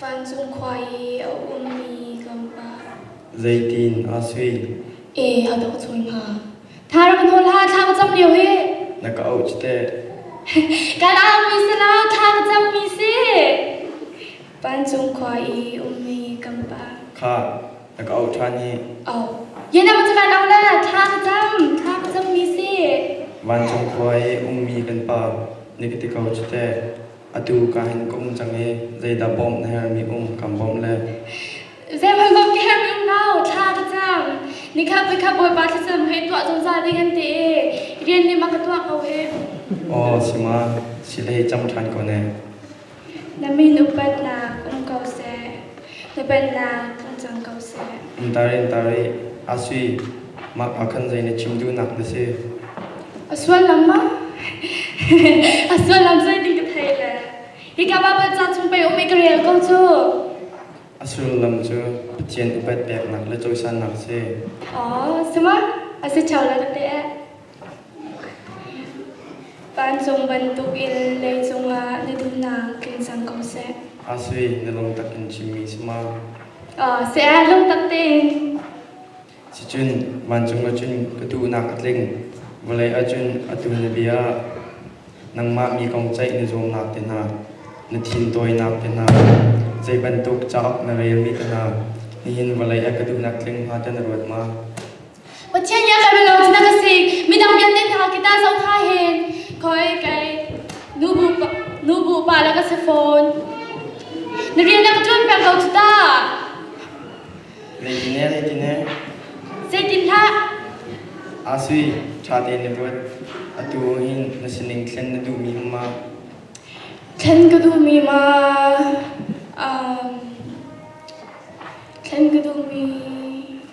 Vancung khua i a ummi kan pa. Zeitin aa sui? E, a dawh cawi hnga. Thar kan hon hla thla ka cam lio hi. Na ka auh cite. Kan auhmi si lo, thla ka cammi si. Vancung khua i ummi kan pa. Kha Na ka auh ṭhan i Yenam cu van au la thang dam thang zong mi si vancung khua i ummi kan Pa, na ka ti ko cu teh. Atu ka hin ka um cang i zeidah bawmh na hermi um kan bawmh le. Zeihmanh bawmh ka hermi um lo thla ka cam nikhat voikhat Bawipa thlisam he tuah zungzal ding an ti i rian nih mak ka tuah ko him Aw si ma, si lei cam ṭhan ko ne. Na mit upatnak um ko seh. Na pennak tlung cang ko seh. In tar in tar i a sui mah ah khan zei na chim duhnak na si. A sullam ma? A sullam zei ding ka thei le. Hi ka ba ba ca chung pe um ka rel ko cu. A sullam cu Pathian upat peknak le cawisannak si. Oh, sema? A si chau la te eh. Vancung bantukin lei cungah na duhnak tling cang ko seh. A si, na lungtak in chimmi si ma? Oh, si ah lungtak ding. Sicun, vancung acun ka duhnak a tling. Vawlei acun a tu na bia. Nangmah mi kong ceih na zuamnak te hna, na thin tawinak te hna, zei bantuk cauk na relmi te hna, nihin vawlei a ka duhnak tling hnga ta na ruat ma? Pathian ya ka lo na ka si midang vialte hna kita zo tha hen koi kai nubu nubu pa la ka se phone na rian na ka tuan peng ko ta Regine regine sai tin hla asui tha te na ruat atu hin na sining thlen na du mi ma thlen ka du mi ma um thlen ka du mi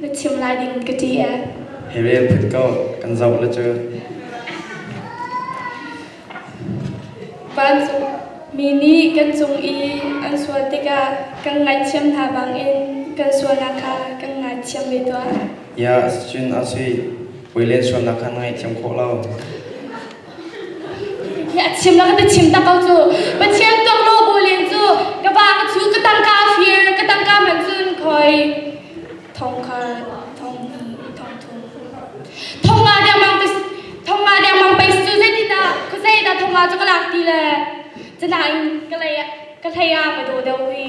Na chim lai ding ka ti ee. Hi vel phut ko kan zoh la cu. Vancung mi nih kan cung i an sual tikah kan ngaihthiam hna bangin kan sualnak kha kan ngaithiam ve tuah. Ya, sicun a si. Voi len sualnak kha na ngaihthiam khawh lo. a chim la ka ti chim tak ko cu Pathian tokhlaw bu len cu ka ba ka chu ka tangka fir ka tangka man cun khoi thong khar thong thong thong thong nga deng mang tis thong nga deng mang pais cu zai ta ku zai ta thong nga chu ka lak ti le chana in ka lay ka hlay a ma do deu hi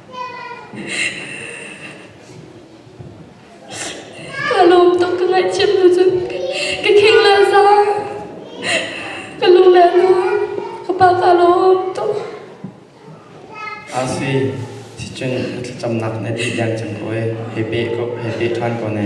Kaa lawm tuk ka ngaihchiat hnu cun ka kheng leh zang. Ka lu leh zang. Ka pa kaa lawm tuk. Asi, ticun thlacamnak na dih deng cang ko ee. Hei peh ko, hei peh ṭhan ko ne.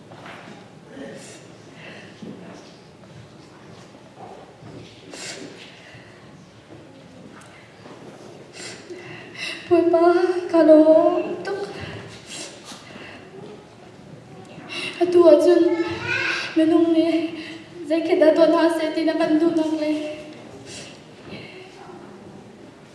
Bawipa, ka lawm tuk. Atu ahcun minung nih zeikhet dah tuah hna seh ti na kan duhnak le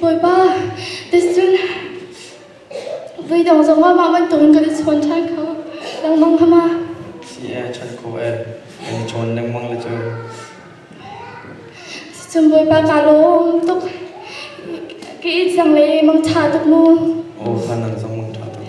Bawipa, tiscun veidong zongah mah bantukin kan i chawn ṭhan kho lengmang kha ma. Ie chan ko e, kan i chawn lengmang le cu. Cun Bawipa kaa lawm tuk. Ka i thiang le mangṭha tuk mu. O, fa nang zong mangṭha tuk.